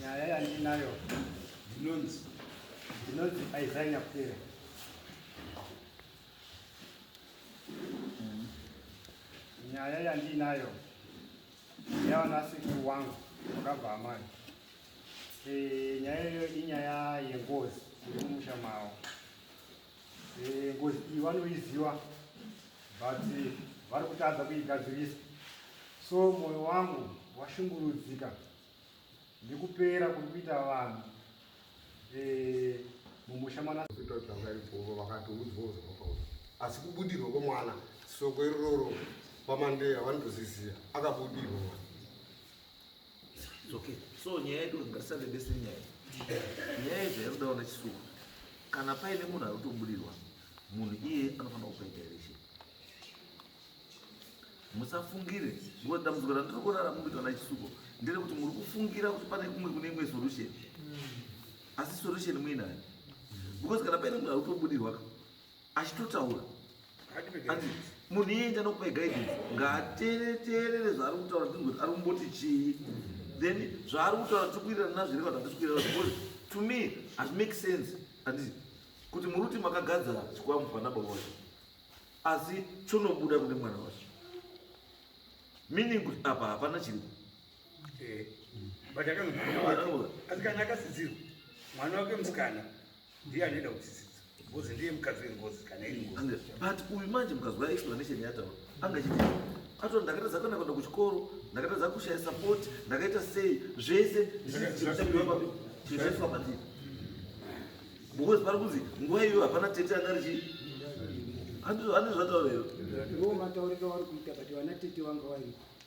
nyaya yandinayo ndinonzi ndinonzi aiza nyapera nyaya yandinayo yavanasekuru wangu vakabva amai eh, nyaya iyo inyaya yengozi iri mumusha mavo Eh, ngozi iyi vanoiziva but vari kutadza kuigadzirisa so mwoyo wangu washungurudzika nekupera kuri kuita vanhu eh, mumusha mwanaaipovo vakatoudzwawo zvakapau asi kubudirwa kwemwana soko irororo pamandeya vanotozizia akabudirwa mwana It's okay. So nyaya yedu ngatisave bese nyaya. Nyaya yedu yakudawo na chisuwa. Kana paine munhu ari kutobudirwa, munhu iye anofanira kupa direction. Musafungire, because dambudziko randiri kurara mukuitwa na chisuko ndere kuti muri kufungira kuti pane kumwe kune imwe solution. Asi solution muinayo. Because kana paine munhu ari kutobudirwa, achitotaura anzi munhu iye enda nokupa guidance ngaatereterere zvaari kutaura ndinoti ari kumboti chii then zvaari kutaura tiri kuirana nazviri kana hatisi kuirana because to me has make sense andii kuti muri kuti makagadza chikwambo pana baba wacho asi chonobuda kune mwana wacho meaning kuti apa hapana chiripo eh, asi kana akasidzirwa mwana wake musikana ndiye anoenda kutsitsidza ngozi ndiye mukadzi wengozi kana iri ngozi but uyu manje mukadzi wa explanation yataura anga chiti ato ndakatadza kana kuenda kuchikoro ndakatadza kushaya support ndakaita sei zvese zvichaitwa pandiri because pari kunzi nguva iyoyo hapana tete anga richii andizvo zvataura iro ndo matauriro auri kuita but vana tete vanga variko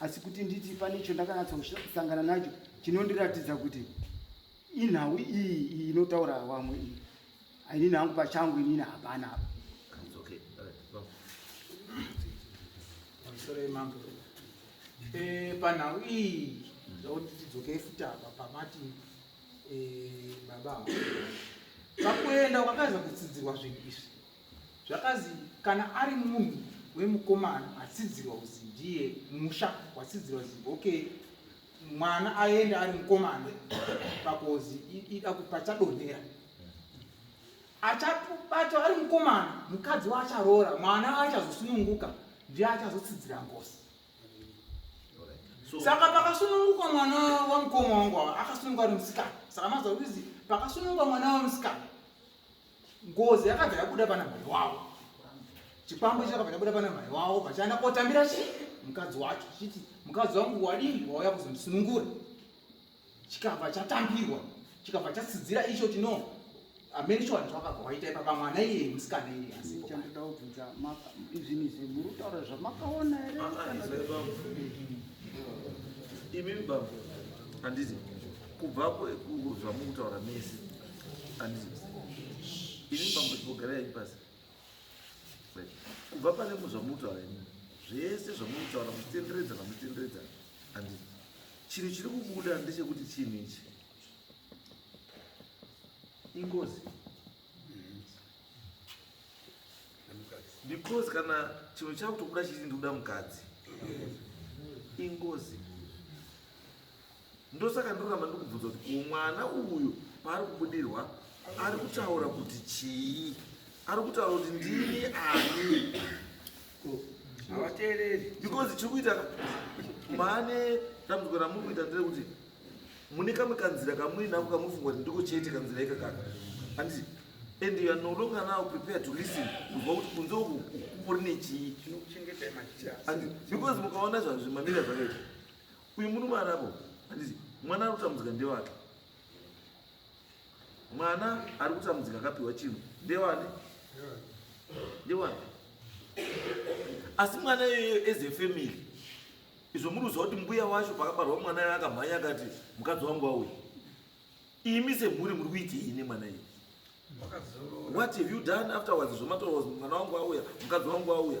asi kuti nditi pane icho ndakanyatsosangana nacho chinondiratidza kuti inhau iyi iyi inotaura wamwe iyi ainini hangu pachangu inini hapana apa eh, panhau iyi zvakuti tidzoke futi apa pamati eh, baba pakuenda kwakaza kutsidzirwa zvinhu izvi Zvakazi kana ari munhu wemukomana atsidzirwa kuzi ndiye musha watsidzirwa zi okay mwana aende ari mukomana pakozi ida kupachadonhera achabatwa ari mukomana mukadzi waacharoora mwana aachazosununguka ndiye achazotsidzira ngozi saka pakasununguka mwana wamukoma wangu ava akasununguka ari musikana saka mazokuzi pakasununguka mwana wamusikana ngozi yakabva yabuda pana mhai wavo chikwambo ichi chakabva chabuda pana mhai wavo vachaenda kotambira chi mukadzi wacho chiti mukadzi wangu wadii wauya kuzondisunungura chikabva chatambirwa chikabva chatsidzira icho chino amene chiwanhu chakabva waita ipapa mwana iye musikana iye asichandoda kubvunza izvini izvi muri kutaura zvamakaona here imimi baba handizi kubva zvamukutaura mese ini mambogarai pasi kubva pane muzvamutaura ini zvese zvamutaura muchitenderedza namutenderedza andi chinhu chiri kubuda ndechekuti chinhu ichi ingozi because kana chinhu chakutokuda chiti ndikuda mukadzi ingozi Ndosaka ndoramba ndikubvunza kuti ko mwana uyu paari kubudirwa ari kutaura kuti chii? Ari kutaura kuti ndini ani? Havateereri. Because chiri kuita mane dambudziko ramuri kuita nderekuti mune kamwe kanzira kamuri nako kamufunga kuti ndiko chete kanzira ika kaka anditi and you are no longer now prepared to listen kuva kuti kunze uku kuri nechii because mukaona zvazvimamira zvakaita Uyu murume arabo handizi mwana ari kutambudzika ndewake. Mwana ari kutambudzika akapiwa chinhu ndewani? Ndewani? Asi mwana iyoyo as a family izvo muri kuziva kuti mbuya wacho pakabarwa mwana iyoyo akamhanya akati mukadzi wangu wauya. imi semhuri muri kuitei nemwana iyi what have you done afterwards zvomatoa mwana wangu auya mukadzi wangu auya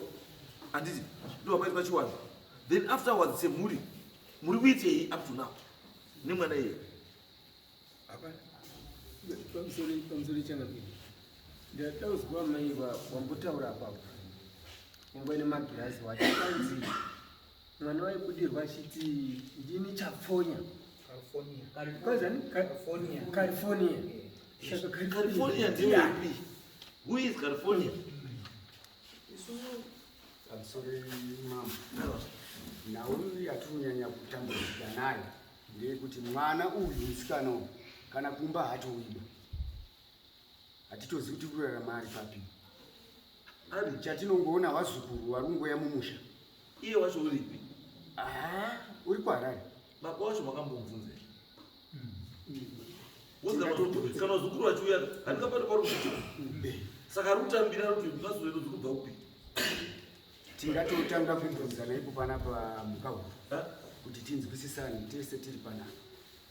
handiti ndo vakaita pachiwana then afterwards semhuri muri kuitei up to now nemwana iye pamusori chanakii ndataudzwa mai wambotaura apapo nyangwe nemagirazi wacho kanzi mwana waibudirwa achiti ndini chapfonya california california ndiyapi who is california I'm sorry, mama. No. nhau yatirinyanya kutambudzika nayo ndeyekuti mwana uyu musikana uyu kana kumba hatowiba hatitozi kuti kurarama ari papi ari chatinongoona vazukuru vari kungoya mumusha iye wacho uripi haa uri kuharare baba wacho makambomubvunza kana zukuru vachiuya handikapati pari kuti saka ari kutambira ari kuti mazuva zuri kubva kupi tingatotanga kubvunzana ipo panapa mukahuru kuti tinzwisisane tese tiri panapa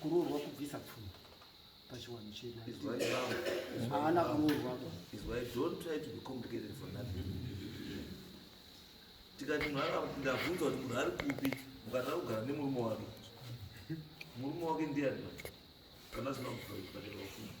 kuroorwa kubvisa pfuma pachiwanhu chedu haana kuroorwa tikati ndabvunza kuti munhu ari kupi mukatanga kugara nemurume wake murume wake ndiani kana zvinokuaa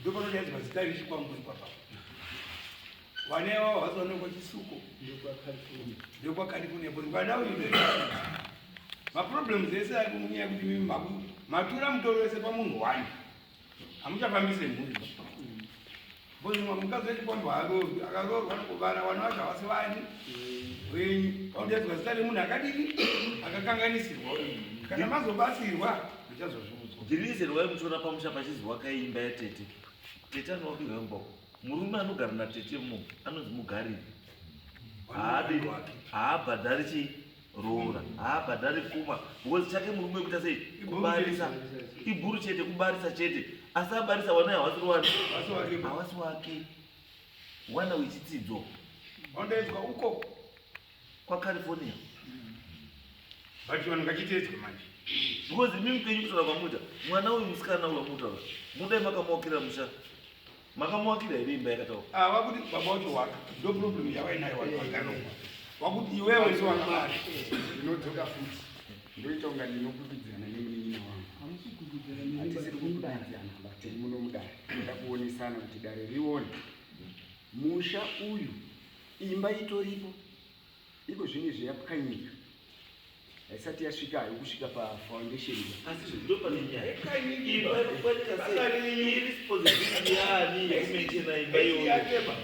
ndopanodaizwa zita iri chikwambo ikwapa vanewa vazoonekwa chisuko ndokwakalikunea kuti vana uyu maproblems ese ari kumunyaya kuti mimi maku matura mutoro wese pamunhu wani hamuchafambise mhuri Ngozi mwa mukadzi wedu kwambo harovi akaroorwa nokuvana vana vacho havasi vani wenyu vaudedzwa zita remunhu akadini akakanganisirwa uyu kana mazobatsirwa muchazozviudzwa dhirizi rwai muchiona pamusha pachinzi wakaimba yatete tete anowapirwa imboko murume anogara natete mu anonzi mugariri haabirwake haabhadhari chii roora haabhadhari pfuma because chake murume kuita sei kubarisa ibhuru chete kubarisa chete asi abarisa wana hawasiri wani hawasi wake wana wechitsidzo ondoedzwa uko kwacalifornia mm. but vanhu ngachiteedzwe manje because imi mupenyu kutaura kwamuita mwana uyu musikana uyu amuta mudai makamuokera musha Makamuvakira here imba yakataura? Ah, vakuti baba wacho waka. Ndo problem yavainayo vanhu vakaromba. Vakuti iwewe ndiwe wakabara. Ndinodzoka futi. Ndoita kunga ndinokubidzana nemunin'ina wangu. Hamusi kukubidzana neni, Hatisiri but kukubidzana mudare. but tiri muno mudare. Toda kuonesana kuti dare rione. Musha uyu imba itoripo. Iko zvino izvi yapwanyika haisati yasvika hayo kusvika pafoundation asi izvo ndo pane nyaya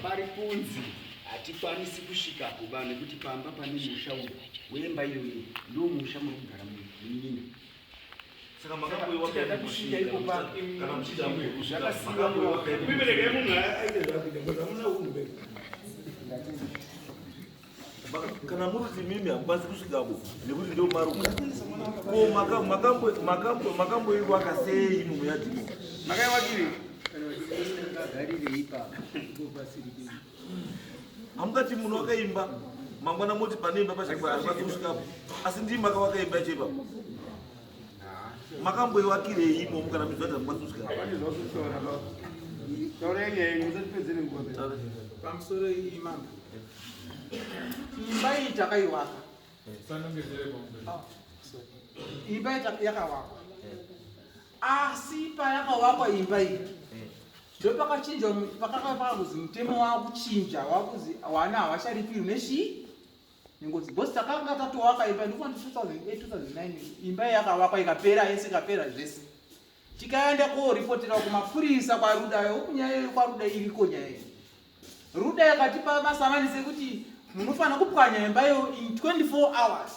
pari kunzi hatikwanisi kusvika kuba nekuti pamba pane musha uyu wemba iyoyo ndo musha muri kugara munyina kana muri kuti mimi hamukwanisi kusvikako nekuti ndo maruka ko makamboiwaka sei mumwe yadhimo makaiwakiri hamungati munhu wakaimba mangwana moti pane imba pachaasvikapo asi ndii maka wakaimba yacho ipapo makamboivakirei imomo kana mizvati hamukwatisvika pamusoro iyi mambo imba iyi takaiwaka imba yakawakwa Asi payakavakwa imba iyi ndopakachinjwa pakakava pakuzi mutemo wakuchinja wakuzi wana havacharipirwi nechii nengozi bcause takanga tatowaka imba ndikuva ndi 2008 imba yakavakwa ikapera yese ikapera zvese tikaenda koripotera kumapurisa kwaruda yokunyaya yo kwaruda iriko nyaya iyi ruda yakatipa masamanisi ekuti munofanira kupwanya imba yo in 24 hours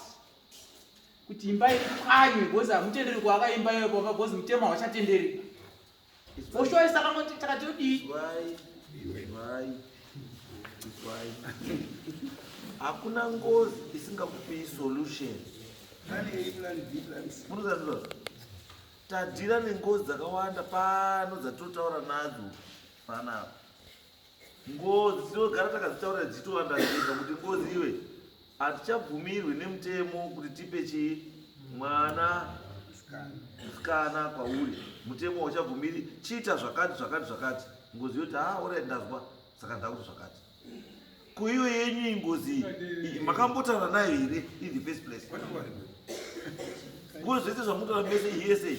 kuti imba ipwanywe because hamutenderi kuaka imba iyoyo pamba because mutemo hauchatenderi oshuwa saka moti takati odii hakuna ngozi isingakupii solution munozazvizvazvo tadhira nengozi dzakawanda pano dzatotaura nadzo panapa Ngozi tinogara takadzitaurira dzichitovanda zvinga kuti ngozi iwe hatichabvumirwi nemutemo kuti tipe chii mwana musikana kwauri mutemo hauchabvumiri chiita zvakati zvakati zvakati ngozi yoti ha ah, orit ndazwa saka ndakuti zvakati kuiyo yenyu ingozi iyi makambotaura nayo here in the first place ngozi zvese zvamutoa mese iyese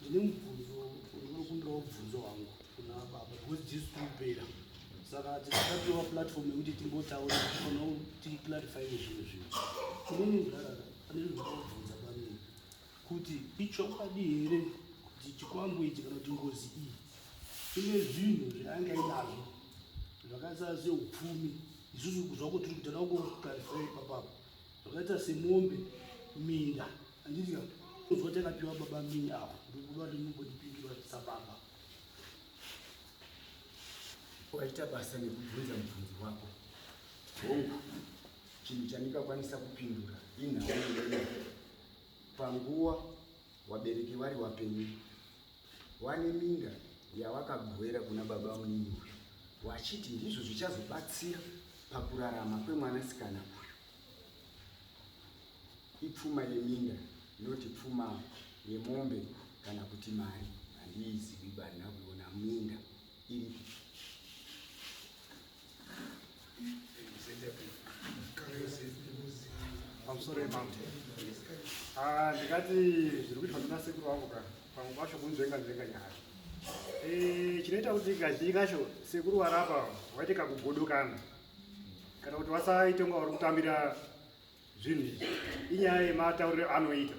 ndine mubvunzo unokumbira mubvunzo wangu kuna baba because jesu tikupera saka tisatapiwa platform yekuti timbotaura kana ticlarify nezvimwe zvinhu kune munhu arara ane zvinobvunza pamii kuti ichokwadi here kuti chikwambo ichi kana kuti ngozi iyi ine zvinhu zvaanga inazvo zvakaita seupfumi isusu zvako tiri kutana kuklarify ipapapa zvakaita semombe minda Handiti ka kunzwa takapiwa baba mini awa ndikuva rinogondipindura sababa waita basa nekubvunza mubvunzi wako hongu chinhu chandingakwanisa kupindura inhau panguwa wabereki vari wapenyu wane minda yawakagwera kuna baba munini uyu wachiti ndizvo zvichazobatsira pakurarama kwemwanasikana uyu ipfuma yeminda not pfuma yemombe kana kuti mari handiizivi barina kuona minda iri pamusoro emaute ah, ndikati zviri kuitwa nemasekuru vangu ka pamwe pacho kunzvenga nzvenga nyaya eh, chinoita kuti kazhinji kacho sekuru varapa waite kakugodokana kana kuti wasaita kunga vari kutambira Zvinhu izvi inyaya yematauriro anoita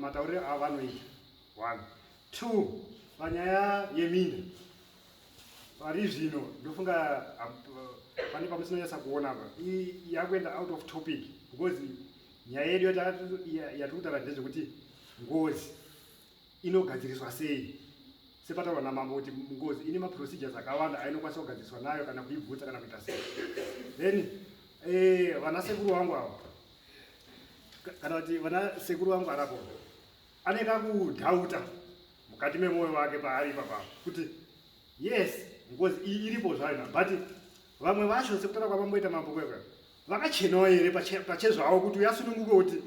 matauriro avo anoita one two panyaya yeminda pari zvino ndofunga pane pamusinonyatsa kuona apa yakuenda out of topic because nyaya yedu yatiri kutaura ndezvekuti ngozi inogadziriswa sei sepataurwa namambo kuti ngozi ine maprocedures akawanda ainokwanisa kugadziriswa nayo kana kuibvutsa kana kuita sei then eh, vana sekuru vangu avo kana kuti vana sekuru vangu arapo ane kakudhauta mukati memwoyo wake paari ipapa kuti yes ngozi iyi iripo zvayo but vamwe vacho sekutaura kwavamboita mambo kwekwe vakachenawo here pachezvavo kuti uyasununguke kuti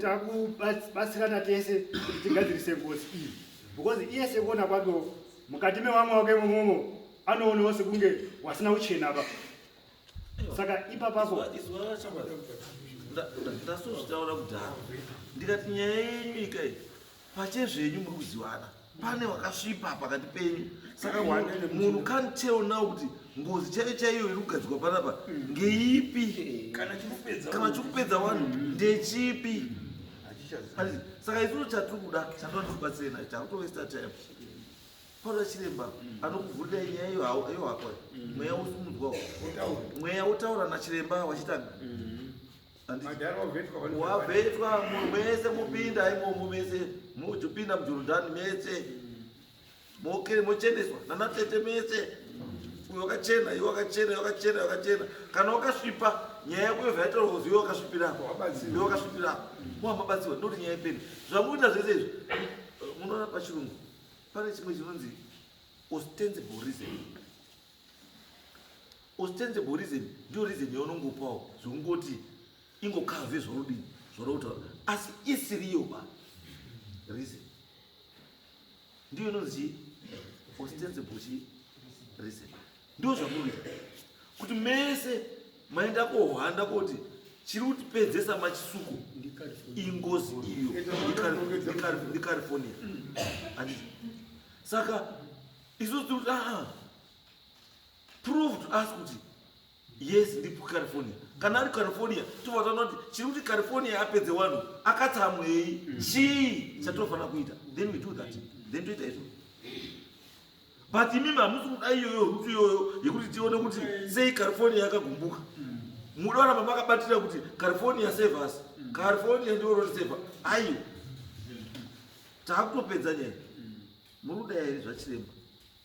takubatsirana tese kuti tigadzirise ngozi iyi because iye sekuona kwakewo mukati mevamwe wake imomomo anoonawo sekunge wasina kuchena pa saka ipapapo ndasozvitaura kudhara ndikati nyaya yenyu ikai Pache zvenyu muri kuzivana. Pane wakasvipa pakati penyu. Saka munhu can't tell now kuti ngozi chaiyo chaiyo iri kugadzikwa panapa ngeipi kana chikupedza vanhu ndechipi saka isusu chatiri kuda chatoda tikubatsire nacho takutovesta time paura chiremba anokuvhurira nyaya iyo iyo hako mweya usimudzwa mweya wotaura nachiremba wachitanga wavetwa mese mupinda imomo mese mujupinda mujurudhani mese mokere mochendeswa nanatete mese uyo wakachena iwe wakachena iwe wakachena wakachena kana wakasvipa nyaya yako yobva yataurwa kuzi iwe wakasvipirako iwe wakasvipirako muhamabatsiwa ndoti nyaya ipeni zvamuita zvese izvi munoona pachirungu pane chimwe chinonzi ostensible reason Ostensible reason ndiyo reason yaunongopawo zvekungoti ingokave zvorudii zvorokutaura asi isiriyo ba reason ndiyo inonzi ostensible chii reason ndiyo zvamunoita kuti mese maenda kohwanda koti chiri kutipedzesa machisuko ingozi iyo ndicalifornia saka isusu tiri kuti aa ah, prove to us kuti yes ndipo california kana ari california tobva taona kuti chiri kuti california apedze wanhu akatsamwei chii chatinofanira kuita then we do that then toita izvo but imimi hamusi kuda iyoyo rutu iyoyo yekuti tione kuti sei california yakagumbuka muda oramba makabatira kuti california save us california ndiwo rotiseva aiwa takutopedza nyaya muri kuda here zvachiremba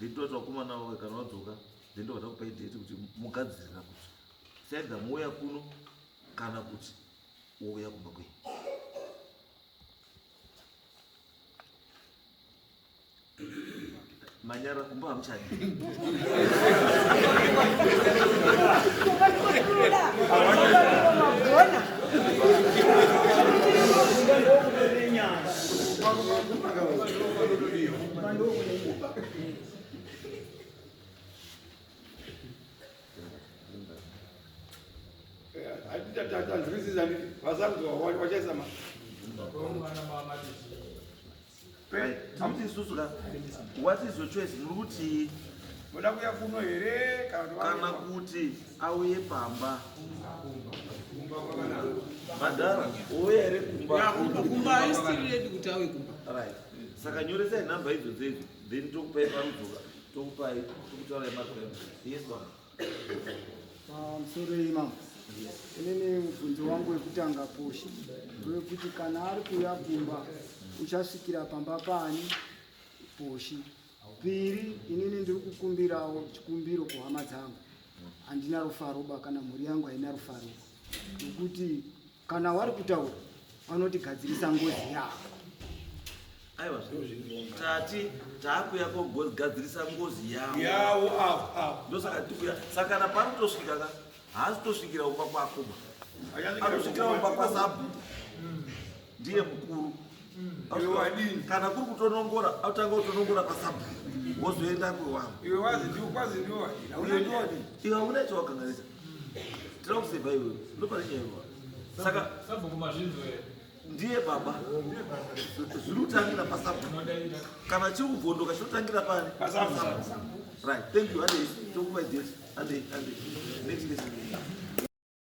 then toti vakomana vavo kana vadzoka then ndovada kupai date kuti mugadzirira kuti saida muuya kuno kana kuti wouya kumba kwenyu manyara kumba hamuchadi What is your choice? Muruti moda kuya kuno here kana kuti auye pamba madhara ouya here kumba saka nyoresai nhamba idzo dzedzo then tokupai parudzoka tokupai tokutaurai magram yes baba ah, msorei mama inini mubvunzo wangu wekutanga posha wekuti kana ari kuuya kumba uchasvikira pamba pani poshi piri inini ndiri kukumbirawo chikumbiro kuhama dzangu handina rufaroba kana mhuri yangu haina rufaroba nokuti Kana wari kutaura vanoti gadzirisa ngozi yako. Aiwa zvinhu tati takuya kogadzirisa ngozi yavo. Yavo avo avo. Ndosaka tikuya saka kana pari kutosvika ka haasi tosvikira umba kwako. Anosvikira umba kwasabu. Ndiye mukuru. iwe wadini kana kuri kutonongora autanga kutonongora pasabu wozoenda kwewangu iwe wazi ndiwo kwazi ndiwo wadini Hauna nyaya. iwe hauna chawakanganisa tira kuseva iwe ndopane nyaya iwa saka Sabhuku mazvinzwa here? ndiye baba zviri kutangira pasabu Unodaira. kana chiri kubvondoka chiri kutangira pani Pasabu. right thank you handei tokupa date handei handei next lesson